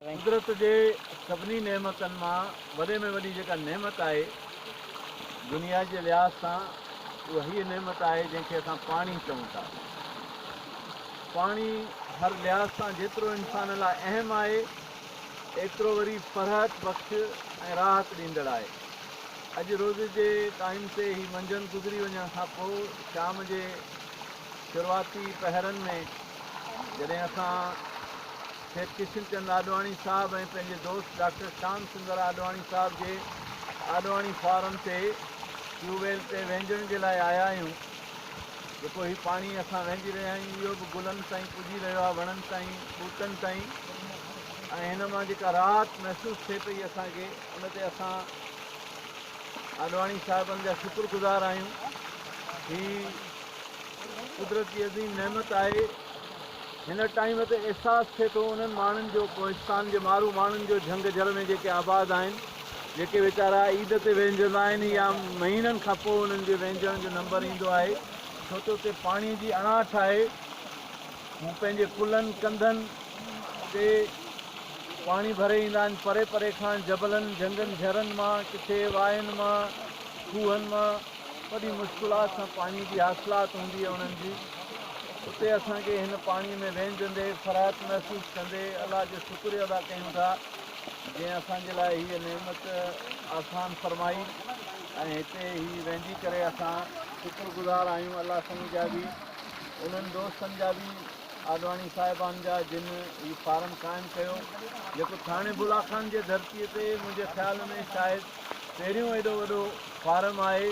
قدرت جي سڀني نعمتن مان وڏي ۾ وڏي جيڪا نعمت آهي دنيا جي لحاظ سان اها هيء نعمت آهي جنهن کي اسان پاڻي چئون ٿا. پاڻي هر لحاظ سان جيترو انسان لاء اهم آهي ايترو وري فرحت بخش ۽ راحت ڏيندڙ آهي. اڄ روز جي ٽائيم تي هي منجهند گذري وڃڻ کان پوء شام جي شروعاتي پهرن ۾ جڏهن اسان شيخ ڪشن چند آڏواڻي صاحب ۽ پنهنجي دوست ڊاڪٽر شام سندر آڏواڻي صاحب جي آڏواڻي فارم تي ٽيوب ويل تي وهنجڻ جي لاء آيا آهيون جيڪو هي پاڻي اسان وهنجي رهيا آهيون اهو به گلن تائين پڄي رهيو آهي وڻن تائين ٻوٽن تائين ۽ هن مان جيڪا راحت محسوس ٿئي پئي اسان کي ان تي اسان آڏواڻي صاحبن جا شڪر گذار آهيون هي قدرت جي عظيم نعمت آهي هن ٽائيم تي احساس ٿئي ٿو انهن ماڻهن جو ڪوهستان جي مارو ماڻهن جو جهنگ جهر ۾ جيڪي آباد آهن جيڪي ويچارا عيد تي وهنجندا آهن يا مهينن کان پوء انهن جي وهنجڻ جو نمبر ايندو آهي ڇو ته اتي پاڻي جي اڻاٺ آهي هو پنهنجي ڪلهن ڪنڌن تي پاڻي ڀري ايندا آهن پري پري کان جبلن جهنگن جهرن مان ڪٿي واين مان کوهن مان وڏي مشڪلات سان پاڻي جي حاصلات هوندي آهي انهن جي اتي اسان کي هن پاڻي ۾ وهنجندي فرحت محسوس ڪندي الله جو شڪريو ادا ڪيون ٿا جنهن اسان جي لاء هيء نعمت آسان فرمائي ۽ هتي هي وهنجي ڪري اسان شڪر گذار آهيون الله سائين جا به انهن دوستن جا به آڏواڻي صاحبان جا جن هي فارم قائم ڪيو جيڪو ٿاڻي بلا خان جي ڌرتي تي منهنجي خيال ۾ شايد پهريون ايڏو وڏو فارم آهي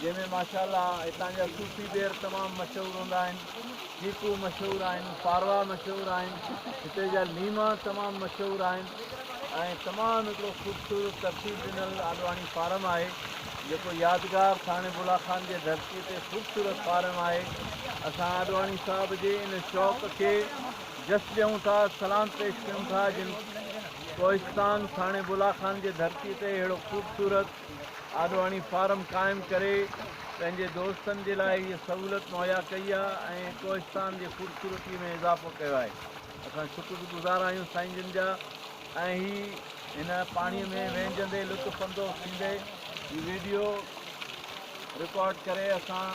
جنهن ۾ ماشاء الله هتان جا صوفي پير تمام مشهور هوندا آهن چيڪو مشهور آهن پاروا مشهور آهن هتي جا ليما تمام مشهور آهن ۽ تمام هڪڙو خوبصورت ترتيب ڏنل آڏواڻي فارم آهي جيڪو يادگار ٿاڻي بلا خان جي ڌرتي تي خوبصورت فارم آهي اسان آڏواڻي صاحب جي ان شوق کي جس ڏيون ٿا سلام پيش ڪيون ٿا جن ڪوهستان ساڻي بلا خان جي ڌرتي تي اهڙو خوبصورت آڏواڻي فارم قائم ڪري پنهنجي دوستن جي لاء هيء سهولت مهيا ڪئي آهي ۽ ڪوهستان جي خوبصورتي ۾ اضافو ڪيو آهي اسان شڪر گذار آهيون سائين جن جا ۽ هي هن پاڻي ۾ وهنجندي لطف اندوز ٿيندي هي ويڊيو رڪارڊ ڪري اسان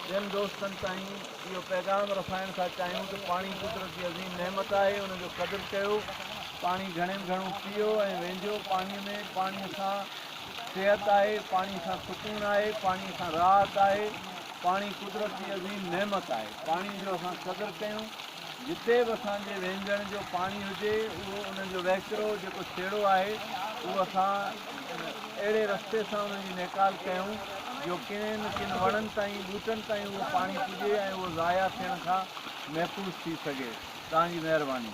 ٻين دوستن تائين اهو پيغام رسائڻ ٿا چاهيون ته پاڻي قدرت جي عظيم نعمت آهي ان جو قدر ڪيو پاڻي گهڻي ۾ گهڻو پيو ۽ وينجهو پاڻي ۾ پاڻي سان صحت آهي پاڻي سان سڪون آهي پاڻي سان راحت آهي پاڻي قدرت جي عظيم نعمت آهي پاڻي جو اسان قدر ڪيون جتي به اسان جي وهنجڻ جو پاڻي هجي اهو انهن جو وهڪرو جيڪو ڇيڙو آهي اهو اسان اهڙي رستي سان انهن جي نيڪال ڪيون جو ڪنين ڪن وڻن تائين ٻوٽن تائين اهو پاڻي پڄي ۽ اهو ضايع ٿيڻ کان محفوظ ٿي سگهي. توهان جي مهرباني.